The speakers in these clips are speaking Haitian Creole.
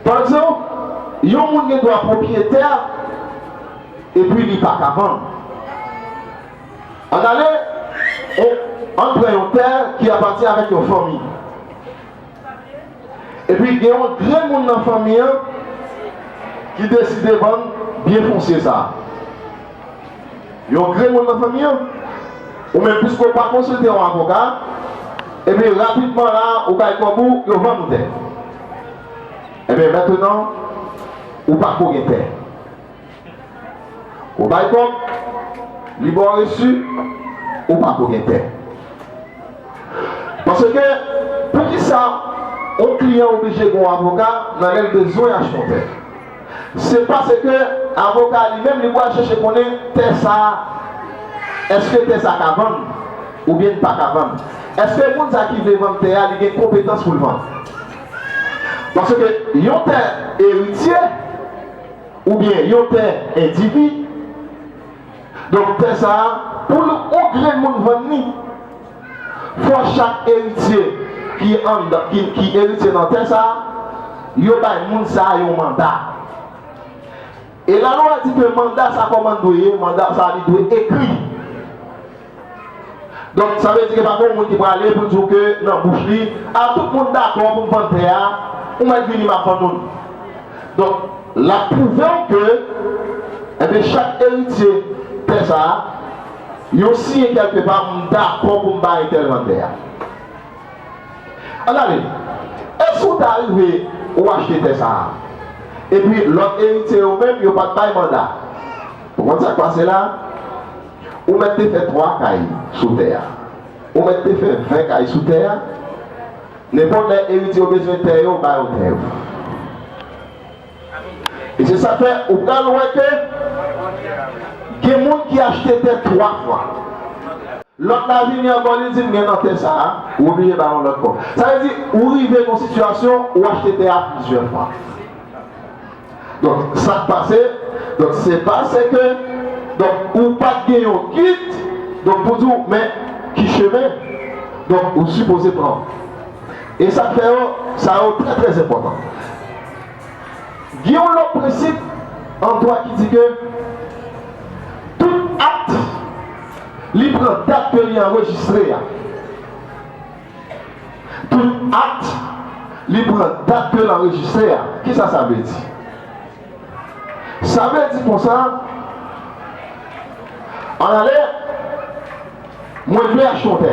Pa egzanp, yon moun gen dwa pwopyetè epi li pa ka vann. Ann ale, ann pran yon tè ki apati avèk yon fanmi. Epi gen yon grenmoun nan fanmi an ki deside vann byen fonsye sa a. Yon grenmoun nan fanmi an? Ou menm piske w pa konsilte yon avoka, epi rapidman la a ou bay kòb ou, yo vann ou tè. Enben mentenan ou pa ko gen tè. Ou bay kòb, li ba w resu, ou pa ko gen tè. Paske poukisa yon kliyan oblije gen yon avoka nan lè l bezwen achte yon tè? Se paske avoka li menm li pwal chèche konnen tè sa eske tè sa ka vann oubyen li paka vann. Eske moun sa ki vle vann tè a li gen konpetans poul vann. Paske yon tè eritye oubyen yon tè endivi donk tè sa poul yon grenn moun vann li. Fò chak eritye ki anndan ki eritye nan tè sa a, yo bay moun sa a yon manda. E lalwa di ke manda sa kòman l dwe ye, manda sa a li dwe ekri. Donk sa vle di ke pa gen yon moun ki prale pou l di w ke nan bouch li, a tout moun dakò pou m vann tè a, ou mèt vini m ap vann ou l. Donk l ap pwouve w ke enben chak eritye tè sa a, Yo siyen kèlke pa m dakò pou m ba entèl nan tè a. An gade, èske ou ta rive ou achte tè sa a? Epi lòt eritye yo menm yo pa t bay manda. Ou konn sa k pase la? Ou mèt te fè twa kay sou tè a. Ou mèt te fè ven kay sou tè a. Nenpòt lè eritye yo bezwen tè yo, ba yo tè yo. E se sa k fè ou pral wè ke gen moun ki achte tè twa fwa. Lòt la vini ankò li di m gen nan tè sa a, ou oblije ba l yon lòt kòb. Sa vle di ou rive nan sitiyasyon ou achte tè a plizyè fwa. Donk sa k pase, donk se pa se ke donk ou pa t gen yon gid donk pou di w men ki chemen donk ou sipoze pran. E sa k fè yo sa yo trè trè enpòtan. Gen yon lòt prensip an dwa ki di ke tout akt li pran dat ke li anrejistre a. Tout akt li pran dat ke l anrejistre a. Kisa sa vle di? Sa vle di konsa, Ann ale, mwen vle achte yon tè.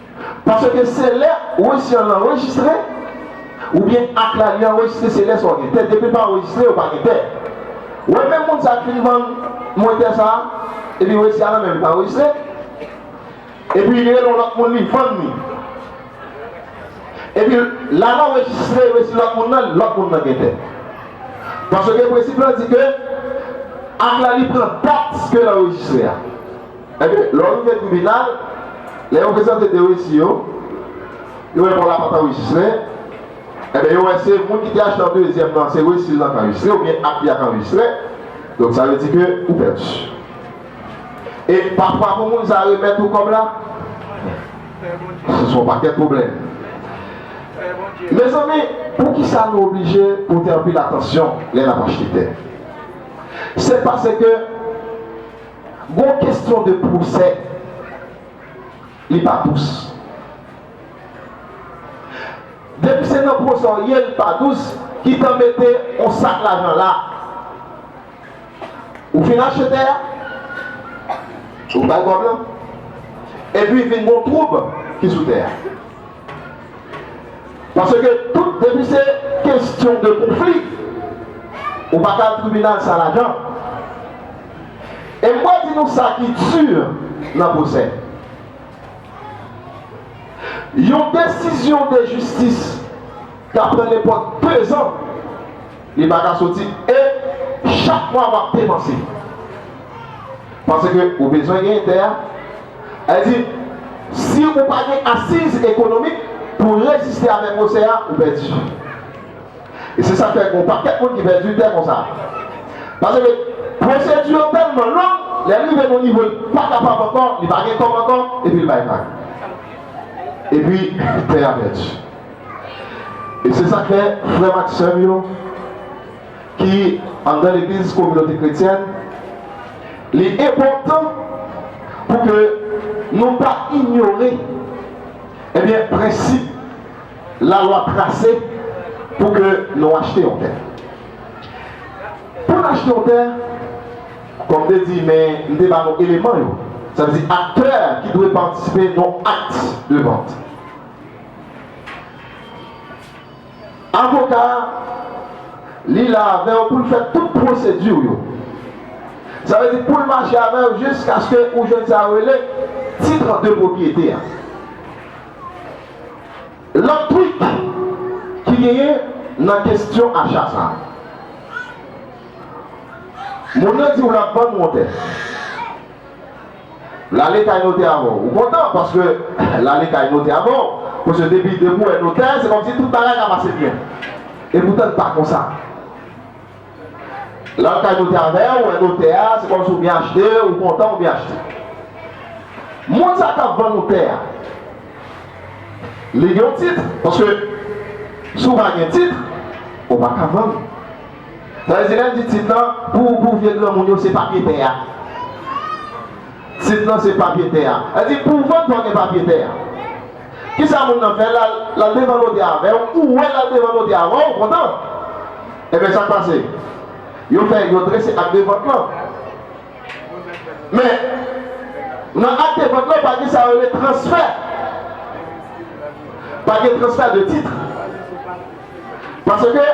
Paske se lè wesiyon l anrejistre oubyen ak la li anrejistre se lè sa w gen tè depi l pa anrejistre ou pa gen tè wè menm moun sa k fin vann mwen tè sa epi wesi a nan men l pa anrejistre epi li rele yon lòt moun li vann li epi la l anrejistre wesi lòt moun nan lòt moun nan gen tè paske prensip lan di ke ak la li pran dat ke l anrejistre a. Ebyen, lè w rive tribinal, lè yo prezante 2 resi yo, yo wè kò la pa t anrejistre, ebyen yo wè se moun ki te achte an dezyèm nan, se resi l nan k anrejistre oubyen ak li a k anrejistre, donk sa vle di ke ou pèdi. E pafwa pou moun sa a remèt ou kòb la, se son pakèt pwoblèm. Mezanmi, poukisa nou oblije pote anpil atansyon lè n ap achte tè? Se pase ke Gon kesyon de pwosè li pa dous. Depi se nan pwosè w ye li pa dous kitan mete on sak lajan la. Ou fin achte tè a, ou bay kòb lan epi vin gon twoub ki sou tè a. Paske tout depi se kestyon de konfli ou pa ka al tribinal san lajan. E m pral di nou sa ki dur nan pwosè. Yon desizyon de jistis ka pran nenpòt 2 zan li pa ka soti e chak mwa w ap depanse. Paske ou bezwen genyen tè a. Li di, Si ou pa gen asiz ekonomik pou w reziste avèk pwosè a, ou pèdi. E se sa k fè gen yon pakèt moun ki pèdi tè konsa. Paske pwosedi yo tèlman long, lè l rive yon nivo l pa kapab ankò, li pa gen kòb ankò, epi l bay vag. Epi tè a pèdi. E se sa k fè, frè m ak sè m yo, ki anndan legliz kominote kretyèn, li enpòtan pou ke nou pa inyore ebyen prensip lalwa trase pou ke nou achte yon tè. Pou n achte yon tè, kòm m te di men m te ba nou eleman yo, sa vle di aktè ki dwe patisipe nan akt de vant. Avoka a, Li la avè w pou l fè tout pwosedi w yo. Sa vle di pou l mache avè w jiskaske ou jwenn sa yo rele titre de pwopyete a. Lòt trik ki genyen nan kestyon acha sa a. Moun nan di w l ap vann w yon tè. Lale kay notè avè w. Ou kontan paske lale kay notè avè w. Paske depi depi ou wè notè, se kòmsi tout bagay ka pase byen. Epoutan li pa konsa. Lè w al kay notè avè w, ou wè notè a, se kòmsi ou byen achte, ou kontan ou byen achte. Moun sa k ap vann ou tè a, li gen yon tit. Paske si w pa gen tit, ou pa ka vann. Tande se lèl di tit lan pou pou vye granmoun yo se papye tè a tit lan se papye tè a lèl di pou vant fòw gen papye tè a kisa moun nan fè lal lal devan notè avèw ou wè lal devan notè avèw ou kontan ebyen sak pase yo fè yo drese akte vant lan men nan akte vant lan pa gen sa yo rele transfè pa gen transfè de titre. Paske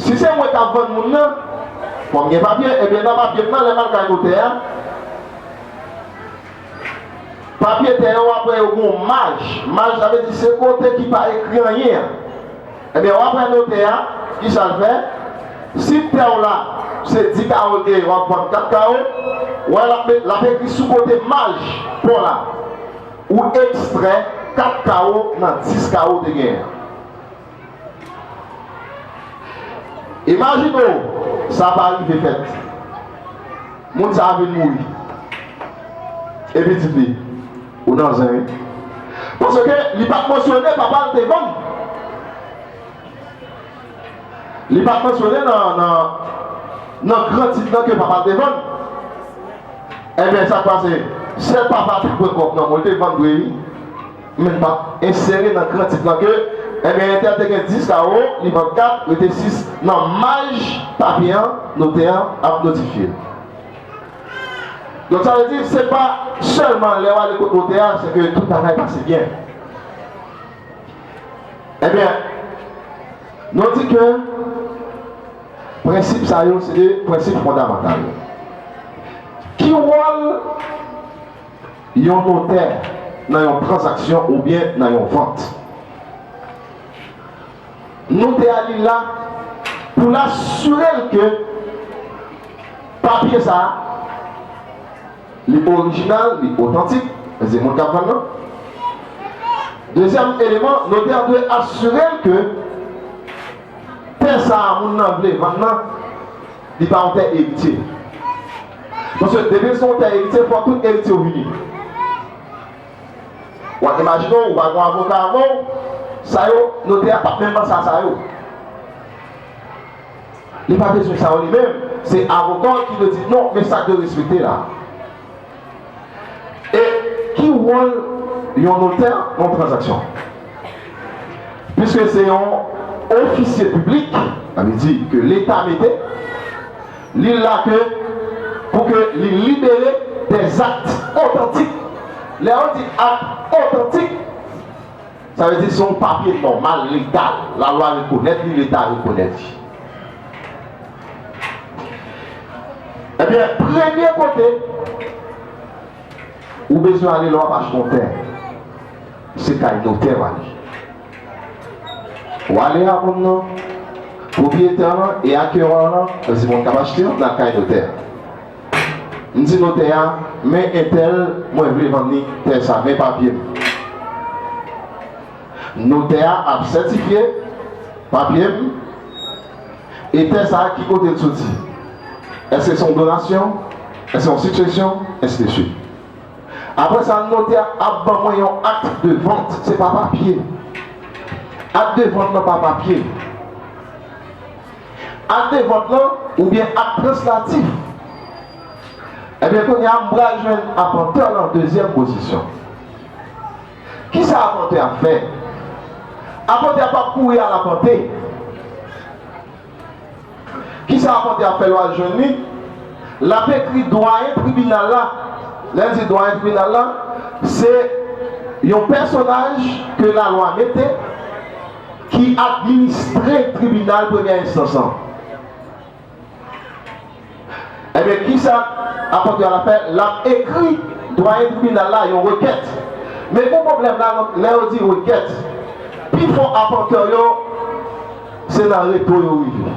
si se mwen kap vann moun nan, fòm gen papye, ebyen nan papye m nan lèm al kay notè a, papye tè yo apre yo gen yon maj, maj sa vle di se kote ki pa ekri anyen an, ebyen wap wè notè a kisa l fè, si tè w la se 10 kawo l gen wap vann 4 kawo, wè lap ekri sou kote maj paw la. Ou ekstrè 4 kawo nan 10 kawo w te genyen an. Imajine w sa pa rive fèt. Moun sa a vin mouri. E pitit li? Ou nan zen wi. Paske li pa t mansyone papa l te vann. Li pa mansyone nan gran tit lan ke papa l te vann. Enben sa k pase? Sèl papa a te pran kòb nan men w. Li te vann vre wi, men li pa t ensere nan gran tit lan ke enben entèl te gen 10 kawo, li vann 4, rete 6 nan maj papye an, notè an ap notifye l. Donk sa vle di se pa sèlman lè w ale kot notè a se ke tout bagay pase byen. Ebyen, nou di ke prensip sa yo se de prensip fondamantal. Ki wòl yon notè nan yon tranzaksyon oubyen nan yon vant? Notè a li la pou l asire l ke papye sa a. Li orijinal, li otantik, men se moun k ap vann nan. Dezyèm eleman, notè an dwe asire l ke tè sa a moun nan vle vann nan, li pa yon tè eritye. Paske depi l se yon tè eritye, fòk tout eritye yo vini. W ap imajine w, ou pa gen yon avoka avè w, sa yo, notè a pa p menm ban sa sa yo. Li pa bezwen sa yo li menm, se avoka w ki dwe di non men sa k dwe respekte la. E ki wòl yon notè nan yon tranzaksyon? Piske se yon ofisye piblik, sa vle di ke leta mete li la ke pou ke li libere dè zakt otantik. Lè yo di akt otantik. Sa vle di se yon papye nòmal, legal, lalwa rekonèt li, leta rekonèt li. Ebyen, premye kote ou bezwen ale lè w ap achte yon tè, se kay notè w ale. Ou ale a moun nan, pwopriyetè lan e akeyò an lan, sa vle di moun k ap achte an, nan kay notè a. M di notè a, Men entèl, mwen vle vann li tè sa. Men papye m. Notè a ap sètifye papye m. E tè sa, ki kote l soti? Èske se yon donasyon? Èske se yon siksesyon? Ensideswit. Apre sa, notè a ap ban mwen yon akt de vant. Se pa papye. Akt de vant lan pa papye. Ak devant lan oubyen ak translatif? Ebyen kounye a m pral jwenn apantè lan dezyèm pozisyon. Kisa apantè ap fè? Apantè a pap kouri al apante. Kisa apantè ap fè lè w al jwenn li? L ap ekri dwayen tribinal la. Lè n di dwayen tribinal la, se yon pèsonaj ke lalwa mete. ki administre tribinal premyè enstans lan. Ebyen kisa apòtre a la fè? L ap ekri dwayen tribinal la yon rekèt. Men gwo pwoblèm la, lè yo di rekèt, pi fò apòtre yo se nan reto yo rive.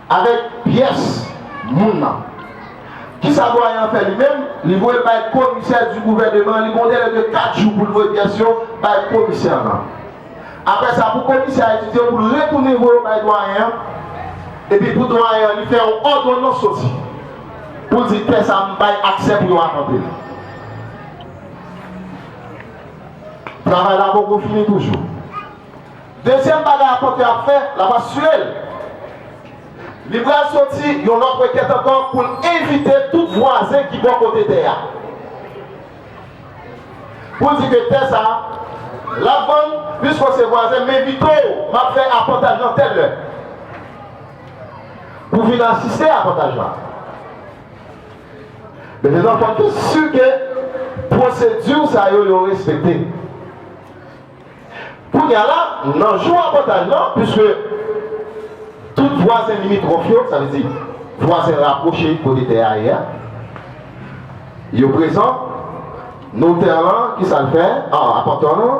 Avèk pyès moun nan. Kisa dwayen an fè li menm? Li voye l bay komisè di gouvèneman an. Li gen yon delè de 4 jou pou l voye pyès yo bay komisè an nan. Apre sa, pou komisè a etidye yo, pou l retounen voye yo bay dwayen an. Epi pou dwayen an, li fè yon òdonans soti pou l di tè sa a m bay aksè pou yo akanpe l. Travay la poko fini toujou. Dezyèm bagay apot yo ap fè, l ap asire l li pral soti yon lòt rekèt ankò pou l envite tout vwazen ki bò kote tè a pou l di ke tè sa a l ap vann, piske w se vwazen, m envite w, m ap fè apòtaj lan tèl lè pou w vin asiste apòtaj la. Mezanmi, fò n si ke pwosedi sa yo yo respekte. Kounye a la, nan jou apòtaj la, piske tout vwazen limitwòf yo, sa vle di, vwazen rapwoche kote tè a ye a, yo prezan, notè lan, ki sa l fè? A, apantè lan,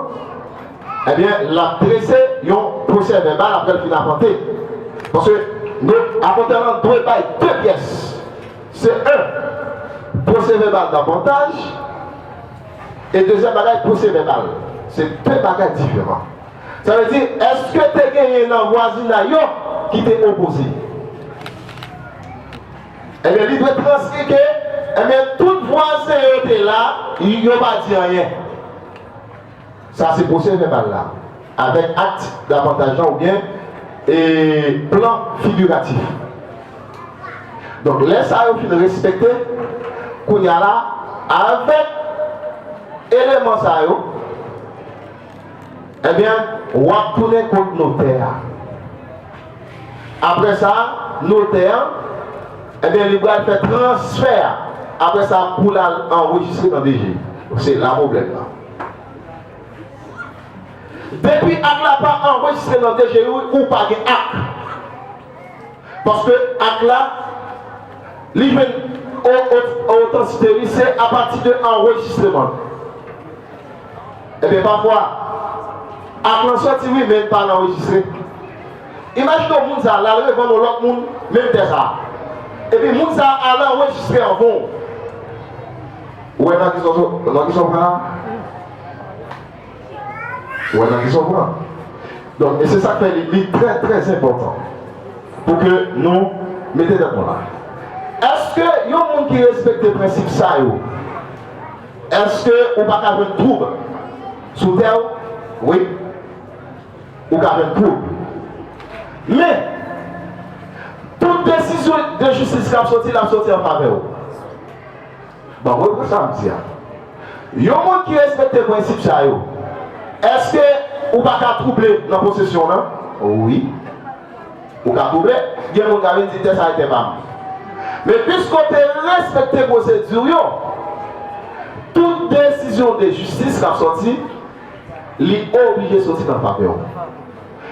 enben, l ap trese yon pwosèvèbal apre l fin apante. Paske, no, apantè lan dwe bay de pyès. Se 1. Pwosèvèbal dapantaj. E dezyèm bagay, pwosè vèbal. Se de bagay diferan. Sa vle di, èske te genyen nan vwazinay yo ki te opoze? Ebyen, li dwe transri ke, ebyen, tout vwazen yo te la, yo pa di anyen. Sa se pwosè vèbal la avèk akt davantaj la oubyen plan figiratif. Donk lè sa yo fin respekte, kounye a la avèk eleman sa yo, ebyen w ap tounen kot notè a. Aprè sa, notè an, ebyen li pral fè transfè a. Aprè sa pou l al anrejistre nan DG. Se la pwoblèm nan. Depi ak la pa anrejistre nan DGI ou pa gen ak. Paske ak la li jwenn otantisite li se apati de anrejistreman l. Ebyen pafwa ak lan soti wi men li pa anrejistre. Imajine w moun sa l al revann yon lòt moun menm tè sa. Epi moun sa al anrejistre anvan w. Ou wè nan kisa w pran la? Ou wè nan kisa w pran? Donk, e se sa k fè li trè trè enpòtan pou ke nou mete tèt nou la. Èske yon moun ki respekte prensip sa yo, èske ou pa ka jwenn twoub sou tè w? Wi, ou ka jwenn twoub. Men, tout desizyon de jistis k ap soti la ap soti an favè w. Bon, gade pou sa m di a. Yon moun ki respekte prensip sa yo, èske ou pa ka twouble nan posesyon w lan? Wi. Ou ka twouble. Gen moun k ap vin di tè sa e tè pa m. Men piske w te respekte pwosedi w yo, tout desizyon de jistis k ap sòti, li oblije sòti nan favè w.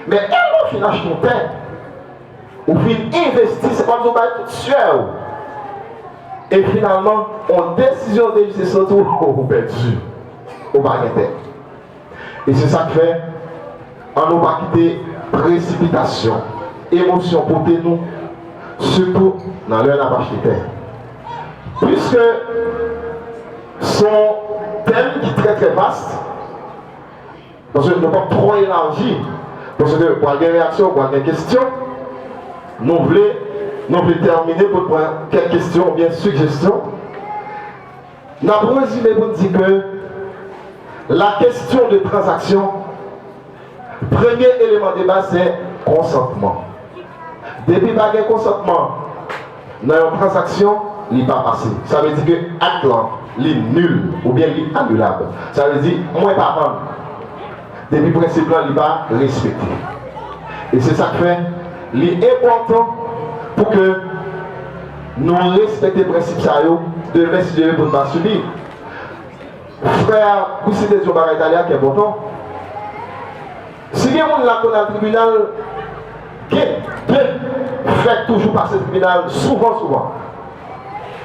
Men, èske lè w fin achte yon tè, Ou fin envesti, se kòmsi ou bay tout syè ou. E finalman, yon desizyon de jistis sot ou, ou pèdi. Ou pa gen tè. E se sa k fè, an nou pa kite presipitasyon, emosyon pote nou, sitou nan lè n ap achte tè. Piske se yon tèm ki trè trè vast. Paske nou pap twò elaji, paske pral gen reyaksyon, pral gen kesyon. Nou vle, nou vle tèmine pou n pran kèk kesyon oubyen sijesyon. N ap rezime pou n di ke la kesyon de tranzaksyon, premye eleman debaz se konsantman. Depi pa gen konsantman. Nan yon transaksyon, li pa pase. Sa vle di ke akt lan, li nul oubyen li anilab. Sa vle di, mwen pa vann depi prensip lan li pa respekte. E se sa k fè li enpòtan pou ke nou respekte prensip sa yo demen si Dye vle pou n pa sibi. Frè Goussy te di yon bagay talè a k enpòtan. Si gen moun la konn al tribinal gen de fèk toujou pase tribinal souvan souvan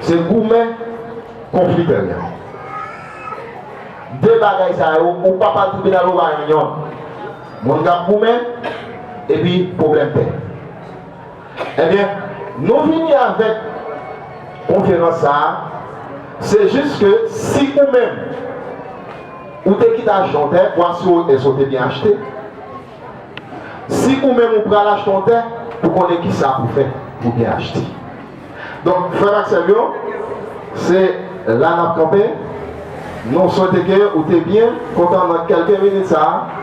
se goumen konfli tèryen de bagay sa yo ou pap al tribinal ou pa yon yon moun kap goumen epi pwoblèm tè. Ebyen nou vini avèk konferans sa a se jis ke si ou menm ou te kite achte yon tè vwa si ou èske ou te byen achte si ou menm ou pral achte yon tè pou konnen kisa pou fè pou byen achte donk frè m ak sè m yo se la n ap kanpe nou swete ke ou te byen kontan nan kèlke minit sa a.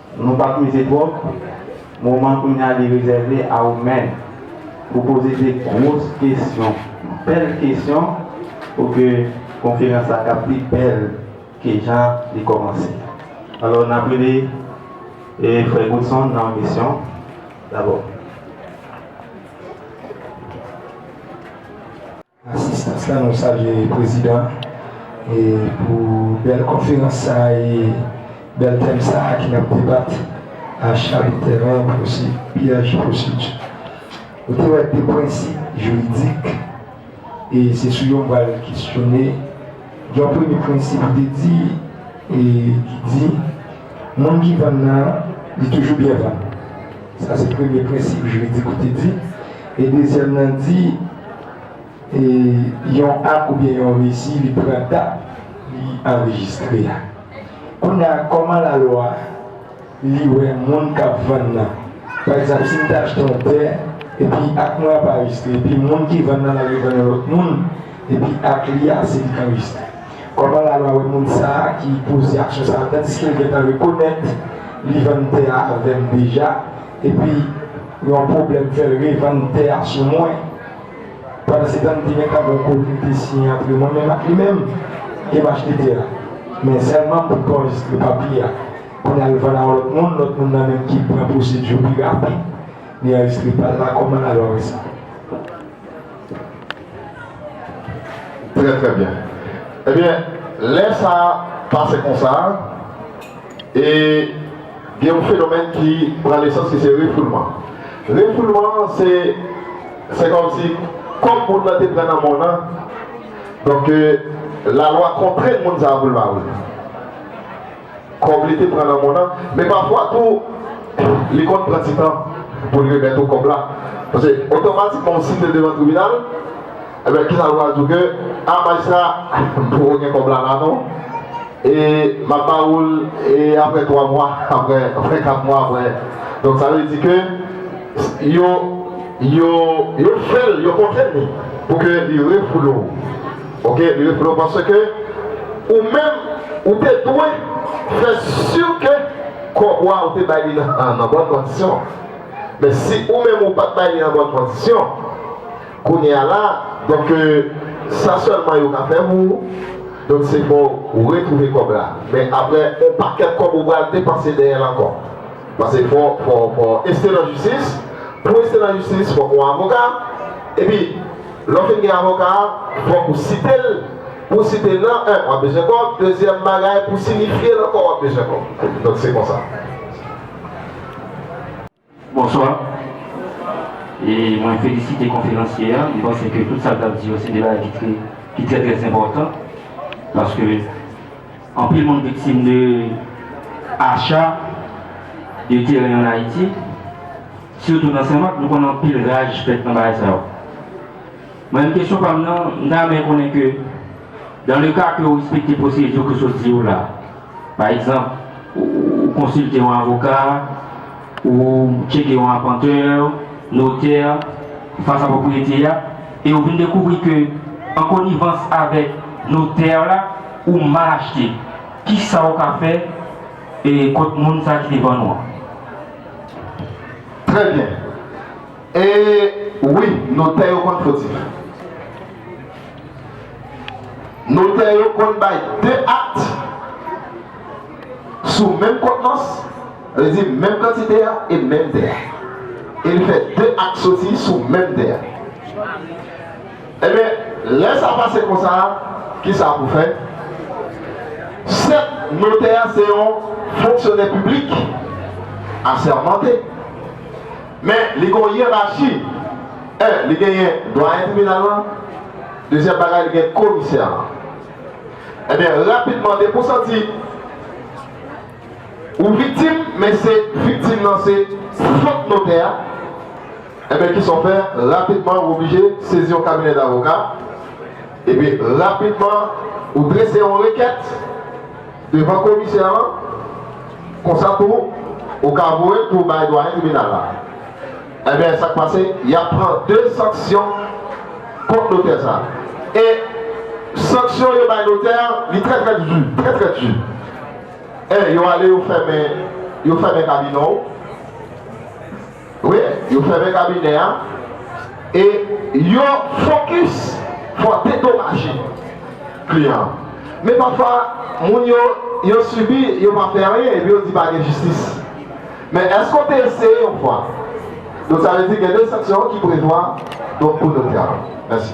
Nou pa peze twòp, moman kounye a li rezève a ou menm pou poze de gwos kesyon, bèl kesyon pou ke konferans la ka pi bèl ke jan li kòmanse. Alò n ap rele Frè Godson nan misyon dabò. asistans la nou salye prezidan pou bèl konferans sa e bèl tèm sa ki nap debat acha de tèren pwosè pyèj pwosedi nou te wè de prensip jiridik e se sou yo m pral kesyone yon premye prensip ou te di e ki di moun ki vann nan li toujou byen vann. Sa se premye prensip jiridik ou te di. E dezyèm nan di, e yon ak oubyen yon resi li pran dat li anrejistre a. Kounya kòman lalwa li wè moun k ap vann nan? Pa egzanp, si m te achte yon tè, epi ak mwen an pa anrejistre, epi moun ki vann nan l al revann yon lòt moun, epi ak li a se li k anrejistre. Kòman lalwa wè moun sa a ki poze aksyon sa a tandiske l gentan rekonèt li vann tè a avè m deja epi yon pwoblèm fè l revann tè a sou mwen? Pandansetan m te gentan gen yon kòntr ki te siyen antre mwen menm ak li menm e m achte tè a men sèlman pou kòz li pa pi a pou n al vann a yon lòt moun, lòt moun nan menm ki pran pwosedi yo pi rapid li anrejistre pa l la, kòman lalwa wè sa? Trè trè byen. Ebyen lè sa pase konsa e gen yon fenomèn ki pran nesans ki se refoulman. Refoulman an se se kòmsi kòm moun nan te pran nan mòn an donk lalwa kontrenn moun sa a pou l pa vini. kòb li te pran nan moun an, men pafwa tou li konn pran ti tan pou l remèt ou kòb la. Paske otomatikman w site devan tribinal, enben kisa l pral di w ke, a majistra m poko gen kòb la la non, e m ap ba ou l aprè 3 mwa, aprè 4 mwa aprè. Donk sa vle di ke yo fè l, yo kontrenn li pou ke li refoule w. Ok li vle w panse ke ou menm ou te dwe fè si ke kòb wa ou te bay li nan bòn kondisyon men si ou menm ou pat bay li nan bòn kondisyon kounye a la donk ke sa sèlman yo ka fè pou ou donk se fò ou retwouve kòb la men aprè on pakèt kòb ou pral depanse dèyè l ankò pase fò fò fò este nan jistis pou este nan jistis fòk on avoka epi. Lè w fin gen avoka a, fòk ou site l. Pou w site l nan, 1 w ap bezwen kòb, dezyèm bagay pou w sinifye l ankò w ap bezwen kòb. Donk se konsa. Bonswa e mwen felisite konferansye a, m panse ke tout sa l t ap di yo se de bagay ki trè trè enpòtan paske. Anpil moun viktim de acha de teren an Ayiti, sitou nan Sen Mak. Nou konnen anpil raj fèt nan bagay sa yo. Mwen menm kesyon pa m nan, m ta renmen konnen ke dan le ka ke ou respekte pwosedi ke sot di yo la, pa egzanp, ou konsilte yon avoka, Ou tcheke yon apantè, notè, fas a pwopriyete a, e ou vin dekouvri ke an konivans avèk notè la, ou mal achte. Kisa ou ka fè kont moun sa ki te vann ou an? Trè byen. E wi, notè yo konn fotif. Notè yo konn bay 2 akte sou menm kontnans. Sa vle di menm kantite a e menm tè a. E li fè 2 ak soti sou menm tè a. Ebyen, lè sa pase konsa, kisa pou fè? Sèt notè a se yon fonksyonè piblik asèmante. Men, li gen yon yerachi. 1, li genyen dwayen tribinal lan. Dezyèm bagay, li gen komisè lan. Ebyen, rapidman, depi w santi. Ou viktim men se viktim nan se fot notè a enben kisa w fè rapidman ou oblije sezi yon kabinè davoka epi rapidman ou drese yon rekèt devan komisè an konsa tou ou ka voye l pou bay dwayen tribinal la enben sa k pase y ap pran de sanksyon kont notè sa e sanksyon yo bay notè li trè trè du trè trè du. Eh yo ale yo fèmen yo fèmen kabinè w wi yo fèmen kabinè a e yo fokis fò dedomaje kliyan an men pafwa moun yo yo sibi yo pa fè anyen epi yo di pa gen jistis men èske w te eseye yon fwa donk sa vle di gen de sanksyon ki prevwa donk pou notè a mèsi.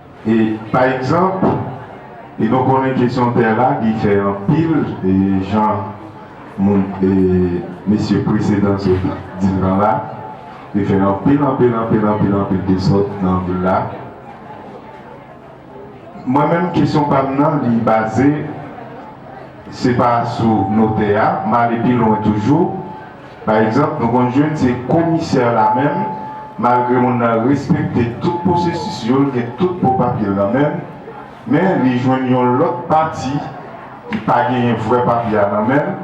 E pa egzanp, e nou konnen kesyon tè la li fè anpil e jan moun e mesye presedan sot di l lan la, li fè anpil anpil anpil anpil anpil desòd nan vil la. Mwen menm kesyon pa m nan li baze se pa sou notè a, m ale pi lwen toujou. Pa egzanp, nou konn jwenn se komisè la menm, malgre moun nan respekte tout pwosesis yo, l gen tout bon papye l nan men l, men li jwenn yon lòt pati ki pa genyen vrè papye a nan men l,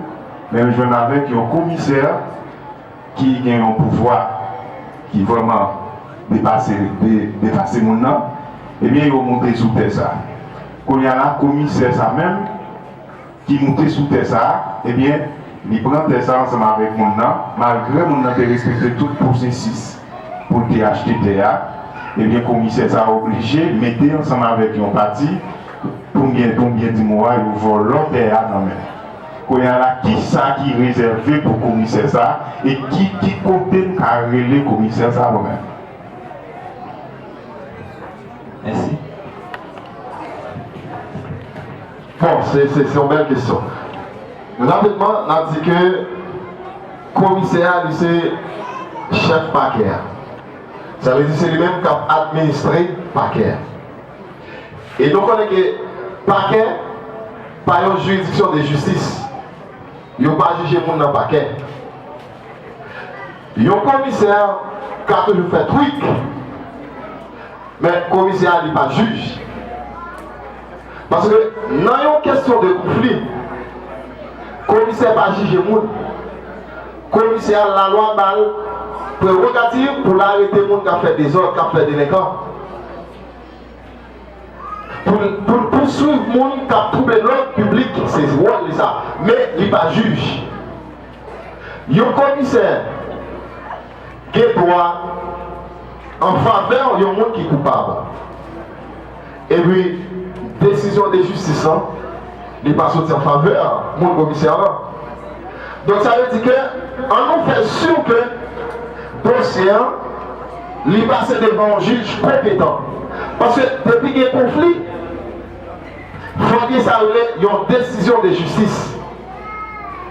men l jwenn avèk yon komisè ki gen yon pouvwa ki vrèman depase depase moun nan, ebyen yo moute sou tè sa. Kounye a la komisè sa menm. ki moute sou tè sa a, ebyen, li pran tè sa a ansanm avèk moun nan, malgre moun nan te respekte tout pwosesis pou l te achte tè a, ebyen, komisè sa a oblije mete ansanm avèk yon pati, pou m gen, pou m byen di mo a, yo vòlò tè a nan men l. Kounye a la, ki sa ki rezève pou komisè sa a, e ki, ki kote m ka rele komisè sa a mwen menm? Mèsi. Bon, se, se yon bèl kesyon. Rapidman, n ap di ke komisè a li se chèf pakè a. Sa vle di se li menm k ap administre pakè a. E nou konnen ke pakè pa yon jiridiksyon de jistis. Yo pa jije moun nan pakè. Yon komisè ka toujou fè twik, men komisè a li pa jij. Paske nan yon kesyon de konfli, komisè pa jije moun. Komisè a lalwa ba l prerogativ pou l arete moun k ap fè dezòd, k ap fè delenkan. Pou l pouswiv moun k ap twouble lòd piblik, se wòl li sa. Men, li pa jij. Yon komisè gen dwa an favè yon moun ki koupab. Epi desizyon de jistis lan li pa soti an favè moun komisè lan. Donk sa vle di ke an nou fè si ke dosye an li pase devan yon jij konpetan. Paske depi gen konfli. Mwen gen sa yo rele yon desizyon de jistis.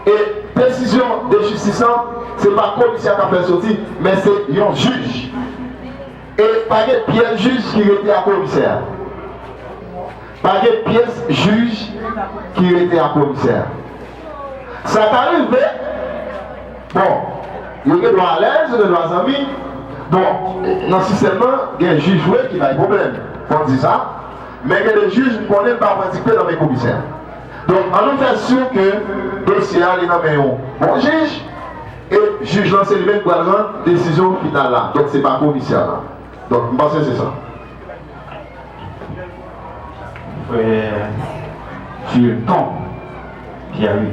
E desizyon de jistis lan, se pa komisè k ap fè l soti, men se yon jij. E pa gen pyès jij ki rete a komisè a. Pa gen pyès jij ki rete a komisè a. Sa ka rive, bon, yo gen dwa alèz, yo gen dwa zanmi. Bon, nan sistèm lan, gen jij vre ki bay pwoblèm, fò n di sa. Men gen de jij m konnen pa pran dikte nan men komisè. Donk an nou fè sur ke dosye a li nan men yon bon jij e jij lan se li menm ki pral rann desizyon final la. Donk se pa komisè la. Donk m panse se sa. Frè Fulton Pierre.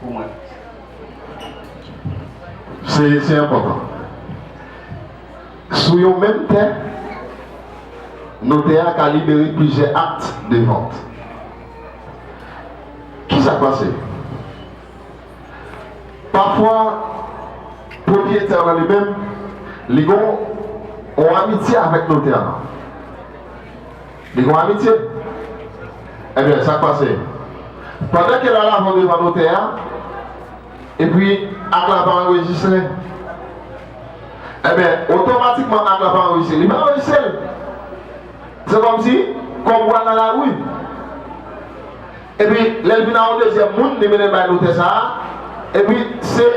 pou mwen. Se enpòtan. Sou yon menm tè, notè a ka libere plizyè akt de vant. Ki sa k pase? Pafwa, pwopriyetè a li menm, li gen yon amitye avèk notè a. Li gon amitye? Ebyen, sa k pase? Pandan ke l al avan devan notè a, epi ak la pa anrejistre, ebyen, otomatikman ak la pa anrejistre. Li pa anrejistre l. Se kòmsi kòb ou a nan lari. Epi, lè l vin a yon dezyèm moun, li mennen l bay notè sa a, epi se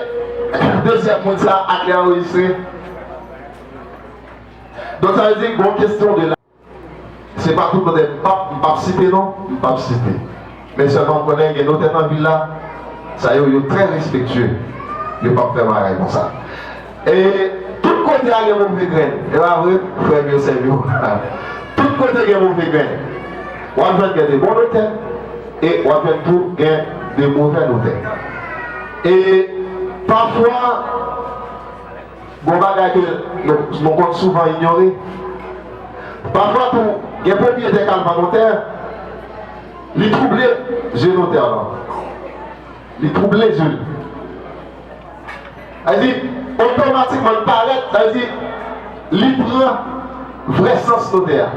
dezyèm moun sa a ak li anrejistre. Donk, sa vle di gon kesyon de. Se pa tout notè m pap m pap site non, m pap site. Men sèlman m konnen gen notè nan vil la, sa yo yo trè respektye, yo pap fè bagay konsa. E tout kote a gen move grenn, e pa vre frè m yo, sè m yo? Tout kote gen move grenn. W ap jwenn gen de bon notè e w ap jwenn tou gen de movè notè. E pafwa. Bon bagay ke nou konn souvan inyore. Pafwa tou, gen pwopryetè k al vann yon tè, li twouble je notè lan. Li twouble je li. Sa vle di, otomatikman li parèt, sa vle di, li pran vrè sans notè a.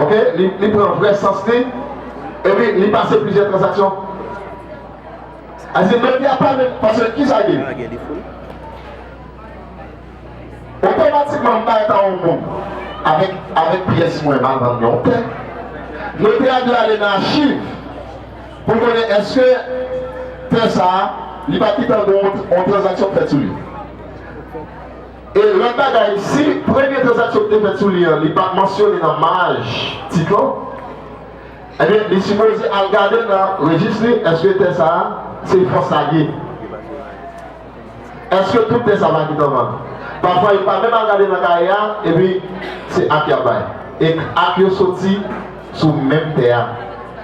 Ok? Li pran vrè sans li, epi li pase plizyè tranzaksyon. Aze mèt li a pa menm pase ki sa gen. Otomatikman m bay ta on moun avèk avèk pyès mwen mal vann yon tè. Notè a dwe ale nan achiv pou l konnen èske tè sa a li pa kitan gen on on tranzaksyon k fèt sou li. E lòt bagay si premye tranzaksyon ki te fèt sou li an li pa mansyone nan maj tit lan. Ebyen li sipoze al gade nan rejis li eske tè sa se fòs la ki Eske tout tè sa pa ki tanvan Pafwa yo pa menm al gade nan kaye a epi se ak yap bay e ak yo soti sou menm tè a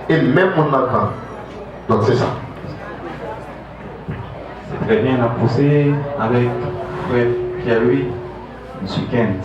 e menm moun nan kan donk se sa. Se trè byen nap pouse avèk frè Pierre Louis Mesye Kent.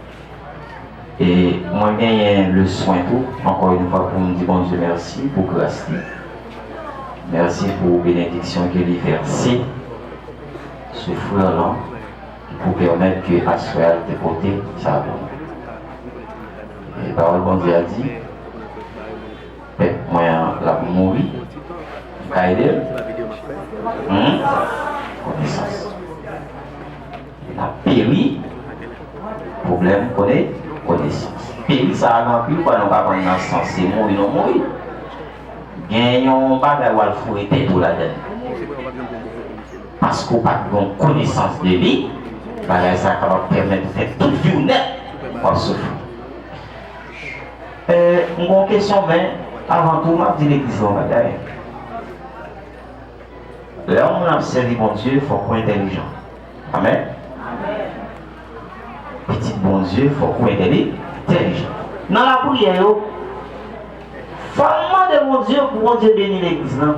E mwen genyen le swen tou ankò yon fwa pou m di Bondye mèsi pou gras li. Mèsi pou benediksyon ke li vèse sou frè lan ki pou pèmèt ke aswè a li te pote sa pou nou. E pawòl Bondye a di, Pèp mwen an l ap mouri. M ka ede l? Humm konesans. Li ta peri pwoblèm kone konesans. Peri sa a gen anpil fwa nou pa konn nan sans se mouri nou mouri. Gen yon bagay w al foure tèt ou ladann. Paske w pa t gen konesans de li, bagay sa a kapab pèmèt ou fè tout vi w nèt w ap soufri. E m gen yon kesyon men avan tou m ap di legliz la yon bagay. Lè yon moun ap sèvi Bondye fòk ou entèlijan. Amen Pitit Bondye fok ou entèlijant nan la priyè yo fòw mande Bondye pou Bondye beni legliz lan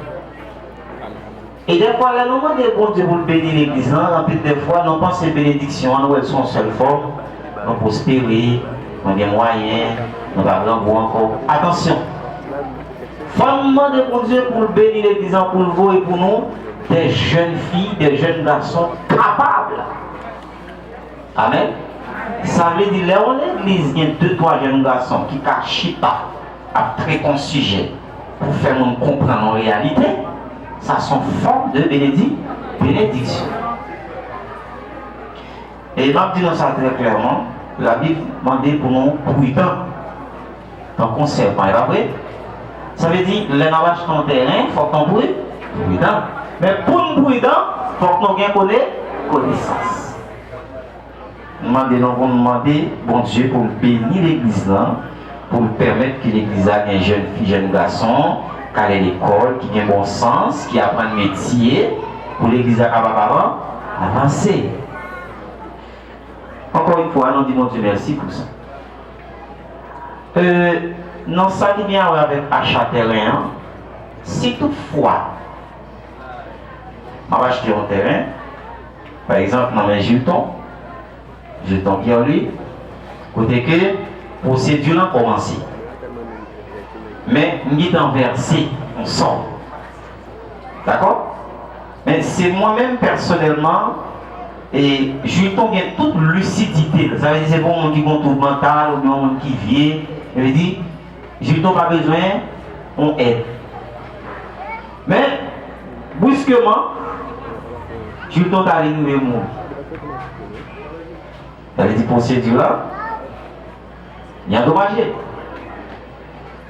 e dèfwa lè nou mande Bondye poul beni legliz lan anpil dèfwa nou panse benediksyon an nou wèl son sèl fòm nou pwospere nou gen mwayen nou pa grangou ankò atansyon fòm mande Bondye poul beni legliz lan poul voye pou nou Dè jèn fi, dè jèn gason kapab. Amen! Sa vle di lè yon legliz gen de twa jèn gason ki ka chita ap trete yon sijè pou fè moun konprann yon reyalite, sa son fòm de benediksyon. E m ap di nou sa trè klèman, Labib mande pou nou pridan tankou sèpan, e pa vre? Sa vle di, lè n ap achte yon tèren, fòk nou pridan. Men, pou n pridan, fòk nou gen konesans. M mande nou pou nou mande Bondye pou l beni Legliz lan. pou l pèmèt ke legliz la gen jèn fi, jèn gason k ale lekòl, ki gen bon sans, ki aprann metye, pou legliz la kapab avan, avanse. Ankò yon fwa, nou di Bondye mèsi pou sa. E, nan sa ki gen awè avèk acha tèren an, si tout fwa m ap achte yon tèren, pa egzanp nan men Jilton, Jeton Pierre-Louis, kote ke pwosedi lan kòmanse. Men, m gentan vèse yon sòm. Dakò? Men, se mwen menm pèsonèlman, e Jeton gen tout lisidite l. Sa vle di se pa yon moun ki gen yon twoub mantal oubyen yon moun ki vye. Sa vle di, Jeton pa bezwen yon èd. Men, briskeman, Juton ta vin rive mouri. Sa vle di pwosedi la li andomaje.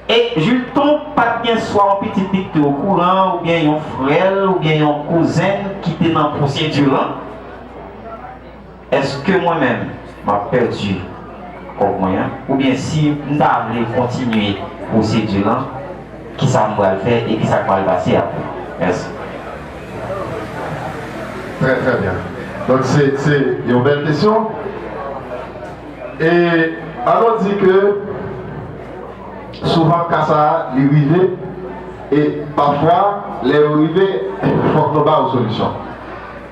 E Juton pa t gen swa yon pitit li ki te okouran oubyen yon frè l oubyen yon kouzen l ki te nan pwosedi lan. Èske mwen menm m ap pèdi kòb mwen an? Oubyen si m ta vle kontinye pwosedi lan, kisa m pral fè e kisa k pral pase apre? Mèsi. Trè trè byen. Donk se se yon bèl kesyon. E an nou di ke souvan ka sa a li rive e pafwa lè yo rive fòk nou ba yo solisyon.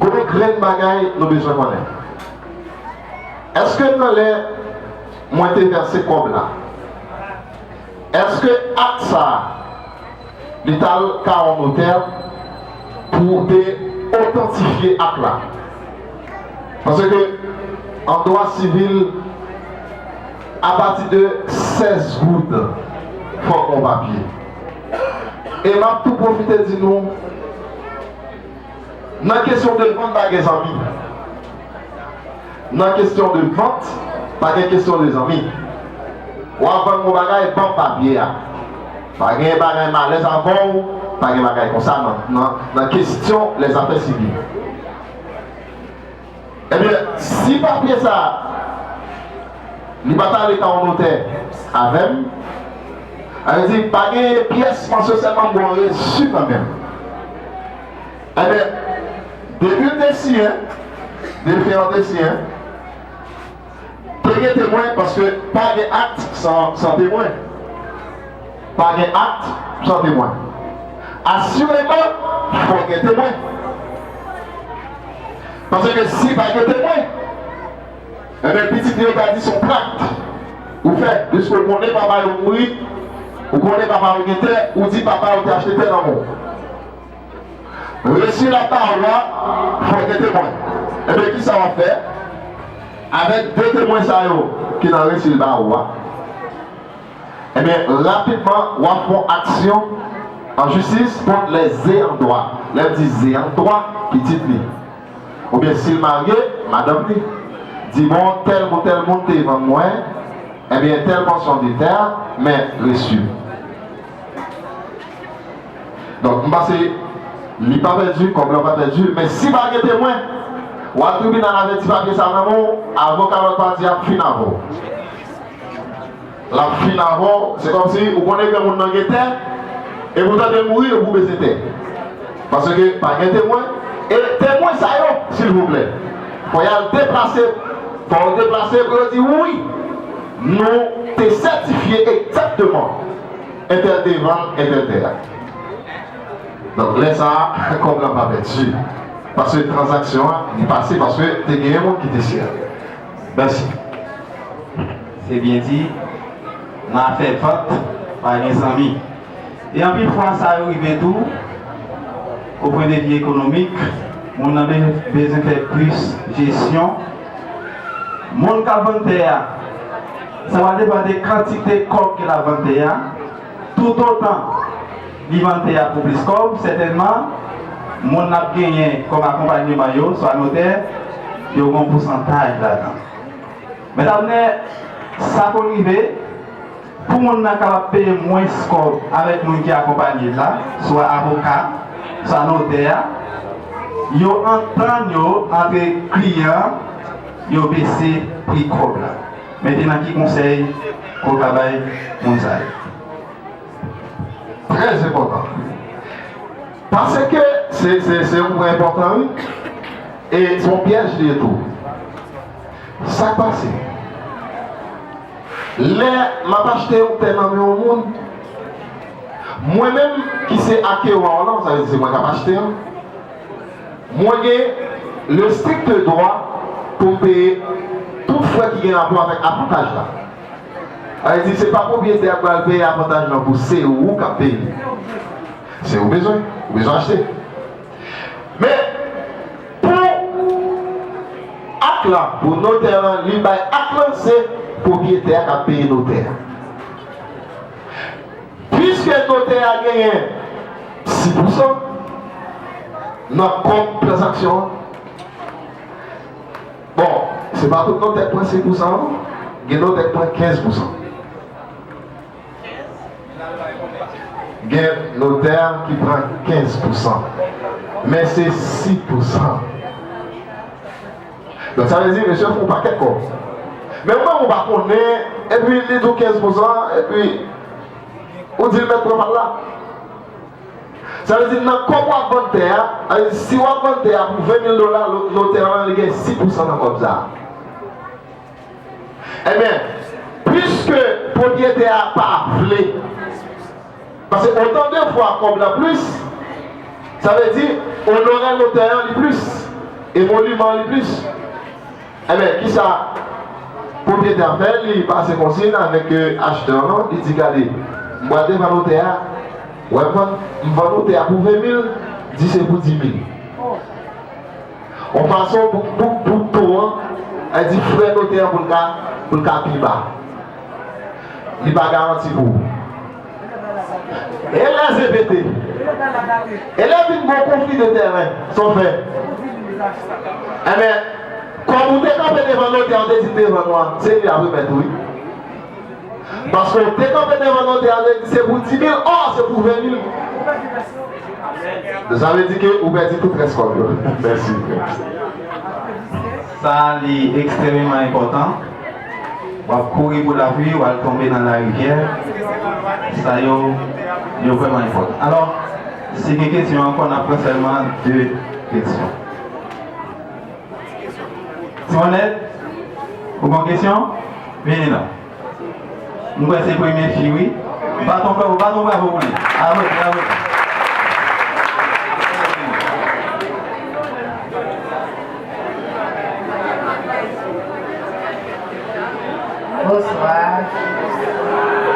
Gon grenn bagay nou bezwen konnen. Eske nan lè mwen te vèse kòb la eske ak sa li tal ka on notè pou te otantifye ak la? Paske an dwa sivil apati de 16 goud fòk on papye. E map tou pwofite di nou. Nan kesyon de vann pa gen zanmi Nan kesyon de vant pa gen kesyon de zanmi Wap vann yon bagay banm papye a Pa gen bagay malèz avèw Pa gen bagay konsa nan kesyon lèzafè sivil. Ebyen, si papye sa a li pa t ale pa yon notè avè m, sa vle di pa gen pyès mansyon sèlman m gen yon resi nan men m. Ebyen, depi l te siyen, depi yon te siyen. Pa gen temwen paske pa gen akt san temwen. Pa gen akt san temwen. Asireman fò gen temwen. Paske si pa gen temwen, enben pitit li yo ka di son trakt ou fè. Piske ou konnen papa yo mouri, ou konnen papa yo gen tè, ou di papa yo te achte tè nan men w. Resi la pawòl la fò gen temwen. Ebyen kisa wap fè avèk 2 temwen sa yo ki nan resi l ba ou a? Ebyen rapidman wap fon aksyon an jistis kont lè ze an dwa. Lè m di ze an dwa, pitit li. Oubyen si l marye, madanm li. Di bon tèl moun tèl moun te vann mwen ebyen tèl pòsyon de tè men resi. Donk, m panse li pa pèdi, kòb lan pa pèdi, men si pa gen temwen, wa tribinal la mete papye sa nan men w, avoka lòt pati a ap fin avè w. L ap fin avè w, se kòmsi ou konnen ke moun nan gen tè, e pou tande l mouri, e pou bese tè. Paske pa gen temwen, e temwen sa yo, silvouplè, fò y al deplase, fò yo deplase pou yo di wi. Nou te sètifye egzakteman entèl te vann entèl tè a. Donk lè sa a kòb la pa pèdi paske tranzaksyon an li pase paske te genyen moun ki te siyen l. Mèsi. Se byen di, nan afè vant pa gen zanmi. E anpil fwa sa yo rive tou o pwen de vi ekonomik, moun nan bezwen fè plis jesyon. Moun k ap vann tè a, sa va depann de kantite kòb ke l ap vann tè a. Toutotan li vann tè a pou plis kòb, sètènman moun l ap genyen kòm akonpanyeman yo, swa notè, yo gen yon pousantaj ladan. Mèt Abnè, sa konn rive. Pou moun nan kapab peye mwens kòb avèk moun ki akonpanye l la, swa avoka, swa notè a, yo antann yo antre kliyan an, yo bese pri kòb la. Mentnan ki konsèy ou ka bay moun sa yo? Trè enpòtan. Paske se yon pwen enpòtan wi. E se yon pyèj li ye tou. Sa k pase? Lè m ap achte yon tè nan men yon moun, mwen menm ki se akeran w lan, sa vle di se mwen k ap achte l, mwen gen le strikte dwa pou m peye tout frè ki gen rapò avèk avantaj la. Sa vle di se pa pwopriyetè a k pral peye avantaj lan pou se ou k ap peye li. Se ou bezwen, ou bezwen achte. Men. Pou ak lan pou notè lan li bay ak lan se pwopriyetè a k ap peye notè a. Piske notè a genyen si pousan nan kòb tranzaksyon an, bon se pa tout notè k pran si pousan non, gen notè k pran kenz pousan. Gen notè ki pran 15 pousan. Men se 6 pousan. Donk sa vle di mesye fon pakèt kòb. Men ou menm ou pa konnen epi li di w 15 pousan epi ou di l mèt pran pa l la. Sa vle di nan kòb w ap vann tè a, sa vle di si w ap vann tè a pou 20 mil dola notè an li gen 6 pousan nan kòb sa a. Enben, piske pwopriyetè a pa vle, pase otan de fwa kòb lan plis, sa vle di onorè notè an li plis, emoluman an li plis, enben, ki sa pwopriyetè a fè? Li pase konsiyn avèk achtè an, li di, Gade, m pral devan notè a, wè m vann ou tè a pou 20 mil, di se pou 10 mil. yon fason pou bouk bout ton an, an di frè notè an pou l ka pou l ka pi ba. Li pa garanti pou ou. E lè se pete? E lè vin gen yon konfli de tèren? Sa w fè? Enben, kòm ou te kanpe devan notè an, ou te di devan nou an, se li y ap remèt ou wi. Paske w te kanpe devan notè a vle di se pou 10.000 ò se pou 20.000 sa vle di ke ou pèdi tout rès kòb yo mèsi frè. Sa li ekstrememan enpòtan. Wap kouri pou lapli wal tonbe nan larivyè. Sa yo yo vrèman enpòtan. Alò, si gen kesyon ankò nap pran sèlman 2 kesyon. Sonèt, ou gon kesyon? Vini non. M kwè se premye fi wi. Baton bravo baton bravo pou li. Apl bravo. Bonswa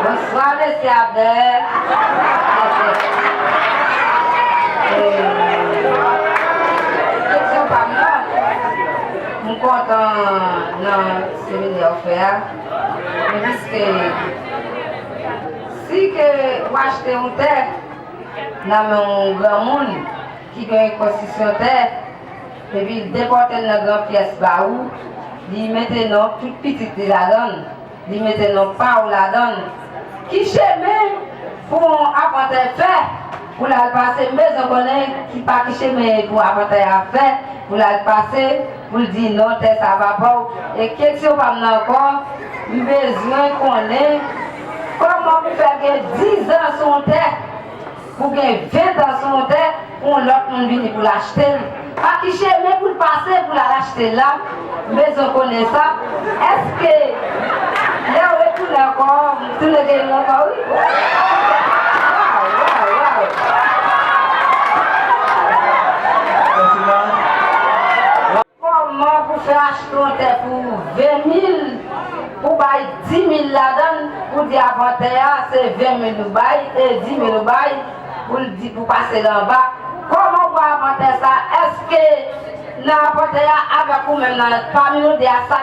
Bonswa mesye Abner Kesyon pam nan M kontan nan seminè ou fè a Men piske Si ke ou achte yon tè nan men yon granmoun ki gen yon konstrisyon tè Epi l depòte l nan gran pyès ba ou, li mete non tout pitit li ladan l, li mete non pa ou ladan l. Ki chemen pou yon apantay fè pou l al pase? M bezwen konnen ki pa ki chemen pou apantay a fè pou l al pase pou l di non tè sa pa pa w? E keksyon pa m nan ankò, m bezwen konnen kòman pou fè l gen dizan sou yon tè? Pou gen 20 tan sou yon tè pou yon lòt moun vini pou l achte l, pa ki chemen pou l pase pou l al achte l la? M bezwen konnen sa. Èske lè w retounen ankò, m tounen gen li ankò wi? Waww! Waww! Waww! Koman pou fè achte yon tè pou 20 mil pou bay 10 mil ladan l pou di avan tè a se 20 mil ou bay e 10 mil ou bay pou l di pou pase l anba koman pou avan tè sa eske nan avan tè a avèk ou menm nan pami nou 2 a sa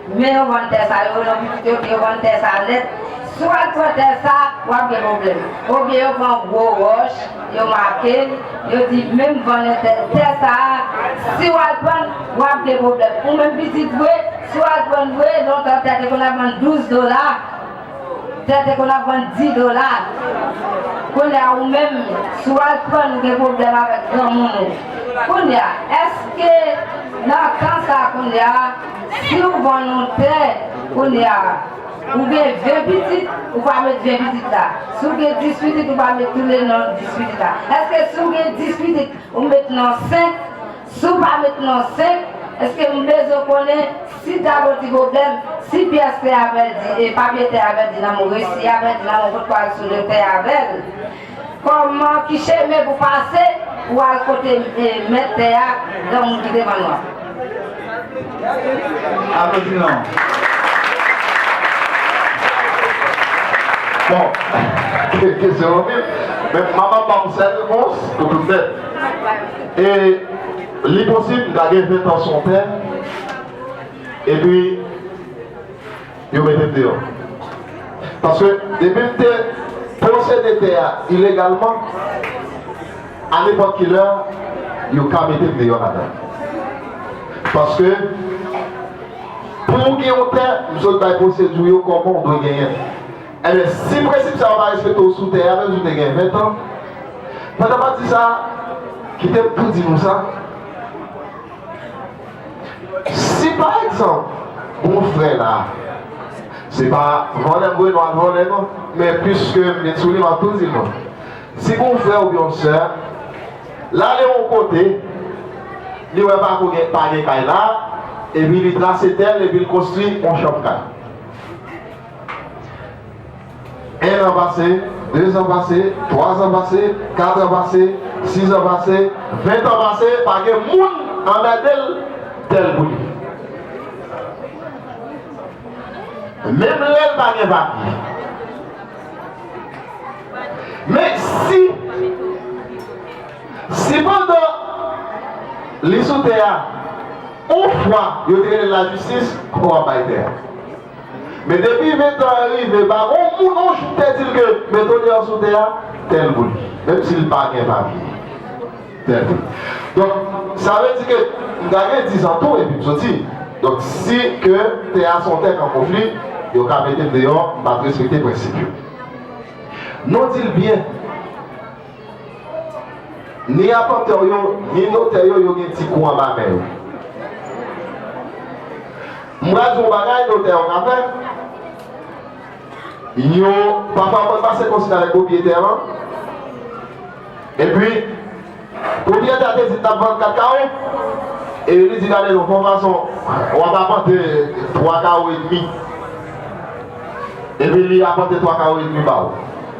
Men non vòltè sa yo non pitit yo gen vòltè sa nèt si w al pran tè sa wap gen pwoblèm oubyen yo pran gwo wòch yo make l yo di menm vòlè tè tè sa si w al pran l wap gen pwoblèm ou menm pitit vre si w al pran l vre lontan tè te konn ap vann 12 dola Tè te konn ap vann 10 dola Kounye a ou menm si w al prann ou gen pwoblèm avèk granmoun ou Kounye a èske nan tan sa kounye a si w vann yon tè kounye a ou gen 20 pitit ou pa met 20 pitit la si w gen 10 pitit ou pa met toule nan 10 pitit la èske si w gen 10 pitit ou met nan 5 Si w pa met non 5, èske m bezwen konnen si Tago ti pwoblèm, si pyès tè a pèdi e papye tè a pèdi nan men w e si y a pèdi nan men w kot pral soule tè avè l? Kòman, ki chemen pou pase pou al kote mèt tè a, granmoun ki devan nou an? E li posib m ta gen 20 ans son tè epi yo mete m deyò. Paske depi m te posede tè a ilegalman, a nepòt ki lè yo ka mete m deyò ladan. Paske pou w gen yon tè, m sot bay pwosedi w yo kòman w dwe genyen l. Enben, si prensip sa yo pa respekte w sou tè a, menm si w te gen ventan, pandan pati sa a, kite m tou di nou sa, Si, pa egzanp, bon frè la, se pa vòlè vre nou al vòlè non, men piske m vin sou li, m ap tou di nou, si bon frè oubyen yon sè l ale yon kote, li wè pa ko gen, pa gen kay la, epi li trase tè l epi l konstwi yon chanm kay. 1 an pase, 2 zan pase, 3 zan pase, 4 an pase, 6 an pase, 20 tan pase, pa gen moun anmède l tè l pou li. Menm lè l pa gen papye. Men si, si pandan li sou tè a, on fwa yo te rele l lajistis, ou ap bay tè a. Men depi ventan an rive pa gon moun on jou te di l ke men tonè an sou tè a, tèl pou li. Menm si l pa gen papye, tèl pou li. Donk, sa vle di ke m ta gen dizan tou epi m soti. Donk, si ke tè a se yon tè k an konfli, yo ka mete m deyò, m pa t respekte prensip yo. Non di l byen. Ni apantè w yo, ni notè yo, yo gen ti kou anba men yo. M pral di w yon bagay notè yo ka fè. Yo, pafwa yo konn pase konsiy avèk pwopriyetè lan. Epi, pwopriyetè a te di l t ap vann 4 kawo, e li di gade non, fò fason w ap apante 3 kawo edmi. Epi li apante 3 kawo edmi ba w.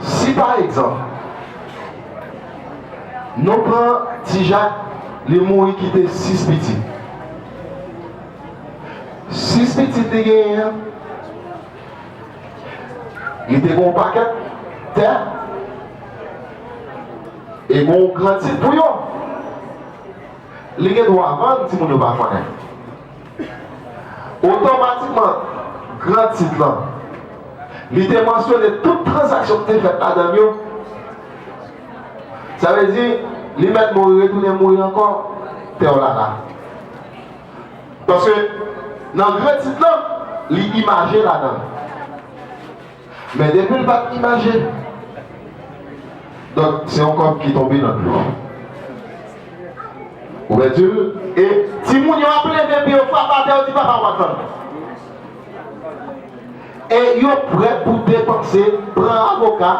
Si pa egzanp nou pran ti Jak li mouri kite 6 pitit. 6 pitit li genyen an li te gen yon pakèt tè e gen yon gran tit pou yo. Li gen dwa vann timoun yo pa konnen. Otomatikman, gran tit lan, li te mansyone tout tranzaksyon ki te fèt ladan l yo. Sa vle di, li mèt mouri retounen mouri ankò, pè w Lala. Paske, nan gran tit lan, li imaje ladan l. Men depi l pa t imaje. Donk se yon kòb ki tonbe nan dlo. Ou pèdi l. E timoun yo ap leve pye yo frap atè yo di papa w pa t vann. E yo prè pou depanse, pran avoka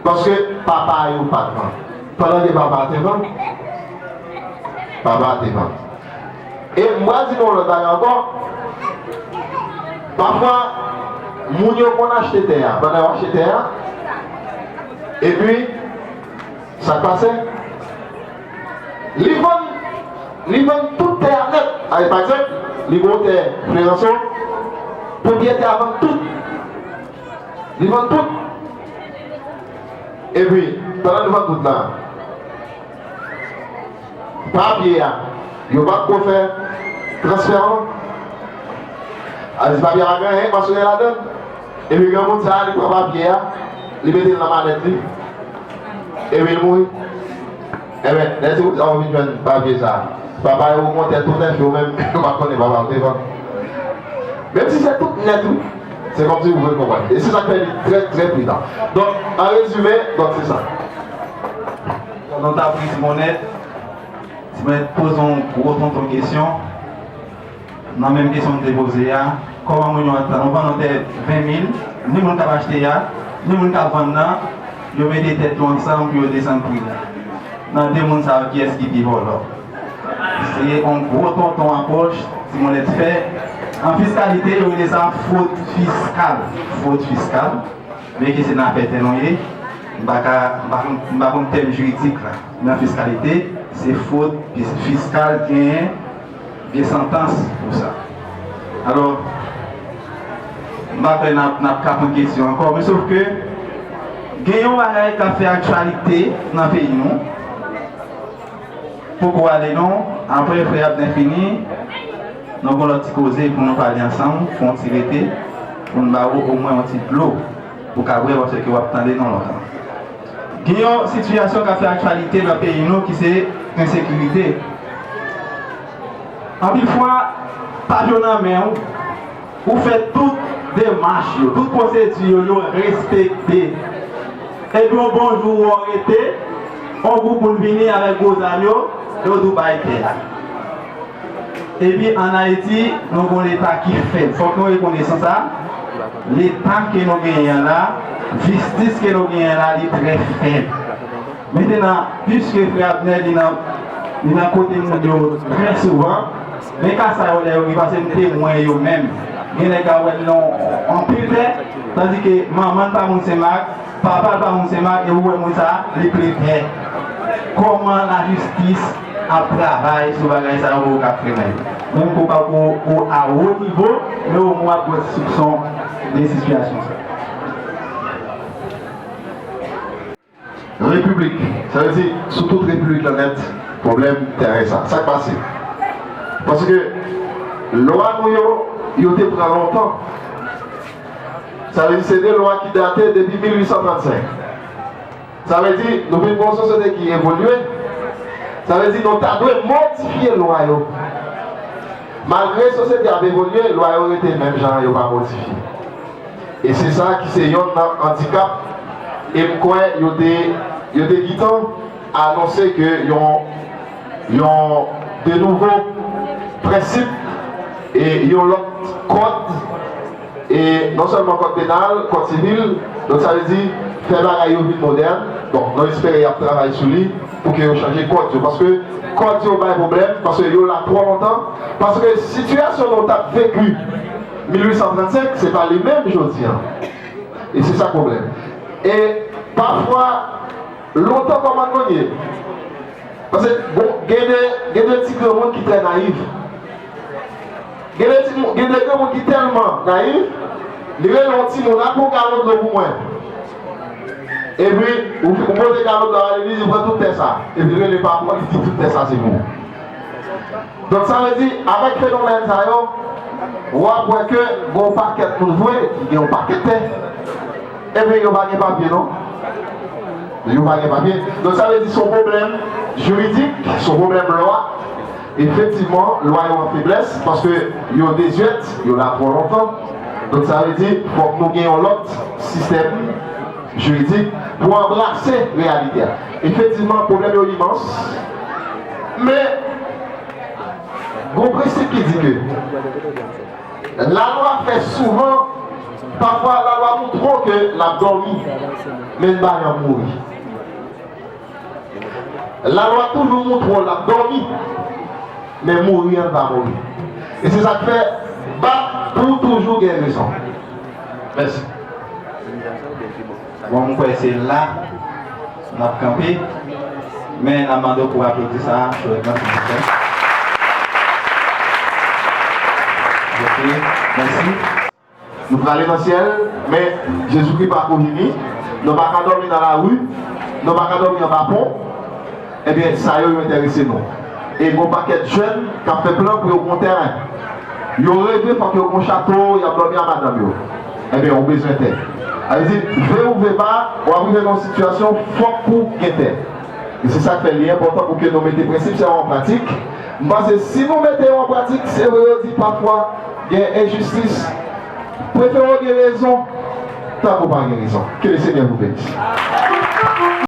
paske papa yo pa t vann. Pandan ke papa a te vann. Papa a te vann. E m pral di nou yon lòt bagay ankò, pafwa moun yo konn achte tè a, pandan yo achte tè a, epi sa k pase? Li vann, li vann tout tè a nèt. Alè, pa egzanp, li gen yon tè Fleranson, pwopriyetè a vann tout. Li vann tout. Epi, pandan li vann tout la. Papye a yo pa ko fè transfè an. Sa vle di papye a pa gen anyen pasyonè ladan l. Epi granmoun sa a li pran papye a, li mete l nan malèt li, epi l mouri. Enben, lè ti boukè a vin jwenn papye sa a, papa yo kontè tout enfi yo menm yo pa konnen papa yo te vann. Menm si se tout nèt wi. Se kòmsi ou vle konprann. E se sa k fè li trè trè prizan. Donk, an rezime, donk se sa. Jan nou tap ri Simonèt, Simonèt poze yon gwo tonton kesyon nan menm kesyon li te poze a, kòman moun yo ap vann yon tè 20 mil, ni moun kap achte a, ni moun kap vann nan, yo mete tèt yo ansanm pou yo desann pri a. Nan 2 moun sa yo kiyès ki pi vòlò? Se yon gwo tonton apwòch Simonèt fè. An fiskalite yo rele sa fwod fiskal, fwod fiskal. Byen ke senatè tè nou ye, m pa ka, m pa konn, m pa konn tèm jiridik la. Men an fiskalite, se fwod fiskal genyen, gen santans pou sa. Alò, m pa kwè n ap, n ap kapon kesyon ankò. Men sof ke, gen yon bagay k ap fè aktyalite nan peyi nou. Poko ale non, aprè frè Abnè fini, nou gon lòt ti koze pou nou pale ansanm, fon ti rete pou m ba ou omwen yon ti dlo pou ka bwè paske w ap tande nou lontan. Gen yon sitiyasyon k ap fè aktyalite nan peyi nou ki se ensekirite. Anpil fwa, pa dlo nan men ou. Ou fè tout demach yo, tout pwosedi yo, yo respekte. Epi yon bon jou ou wè w rete, yon gwoup moun vini avèk gwo zam yo, yo di w bay tè a. Epi an Ayiti, nou gen yon Leta ki fèb. Fòk nou rekonesan sa. Leta ke nou genyen an la, jistis ke nou genyen an la, li trè fèb. Mentenan, piske Frè Abner li nan kote moun yo trè souvan, Men ka sa yo lè yo gen pase m temwen yo menm gen nèg ka wè l nan anpil tè tandi ke manman l pa moun Sen Mak papa l pa moun Sen Mak e ou wè moun sa li ple tè kòman lajistis ap travay sou bagay sa yo pou yo ka frennen l menm ke w pa ko o a wo nivo men omwen w ap gen yon ti soupson de sitiyasyon sa. Repiblik, sa vle di sou tout repiblik lan nèt, pwoblèm tèren sa. Sa k pase? Paske lwa nou yo, yo te pran lontan. Sa vle di se de lwa ki date depi 1835. Sa vle di nou vin gen yon sosyete ki evolye. Sa vle di nou ta dwe modifye lwa yo. Malgre sosyete a ap evolye, lwa yo rete menm jan an, yo pa modifye. E se sa ki se yonn nan andikap e m kwè yo te yo te gitan anonse ke yon yon de nouvo prensip e yon lòt kòd e non sèlman kòd penal, kòd sivil donk sa vle di fè bagay yo vin modèn donk nou espere y ap travay sou li pou ke yo chanje kòd yo paske kòd yo bay pwoblèm paske yo la twò lontan paske sitiyasyon nou t ap veki. 1835 se pa li menm jodi an e se sa pwoblèm e pafwa lontan kòman moun ye pase bon gen de gen de ti granmoun ki trè nayif gen de ti gen de granmoun ki tèlman nayif li rele yon timoun al pran galon dlo pou mwen epi ou ou pote galon dlo a li di pran tout tè sa epi li rele pa pou an li di tout tè sa se pou ou. Donk sa vle di avèk fenomèn sa yo w ap wè ke gen yon pakèt moun vre ki gen yon pakèt tè epi yo pa gen papye non yo pa gen papye donk sa vle di se yon pwoblèm jiridik se yon pwoblèm lwa efektivman lwa yo an feblès paske yo dezyèt yo la twò lontan donk sa vle di fòk nou gen yon lòt sistèm jiridik pou anbrase reyalite a efektivman pwoblèm yo imans. Men, gon prensip ki di ke lalwa fè souvan, pafwa lalwa tou twò ke l ap dòmi, men l bay an mouri. Lalwa toujou moun twò l ap dòmi, men mouri an l pa mouri. E se sa k fè, bat pou w toujou gen rezon. Mèsi. Bon m kwè se la n ap kanpe men n ap mande w pou w aplodi sa a chalereman silvouplè. Ok, mèsi. Nou prale nan syèl, men Jezikri pako vini. Nou pa ka dòmi nan lari, nou pa ka dòmi anba pon. Ebyen sa yo yo enterese nou. E gon pakèt jèn kap fè plan pou yo gon tèren. Yo reve fòk yo gon chato yap dòmi a madanm yo. Ebyen ou bezwen tè. Sa vle di vle ou vle pa wap rive nan yon sitiyasyon fòk pou gen tè. E se sak fè li enpòtan pou ke nou mete prensip sa yo an pratik. M panse si nou mete yo an pratik se vre yo di pafwa gen enjistis prefere w gen rezon tank ou pa gen rezon. Ke le Senyè vou benisse.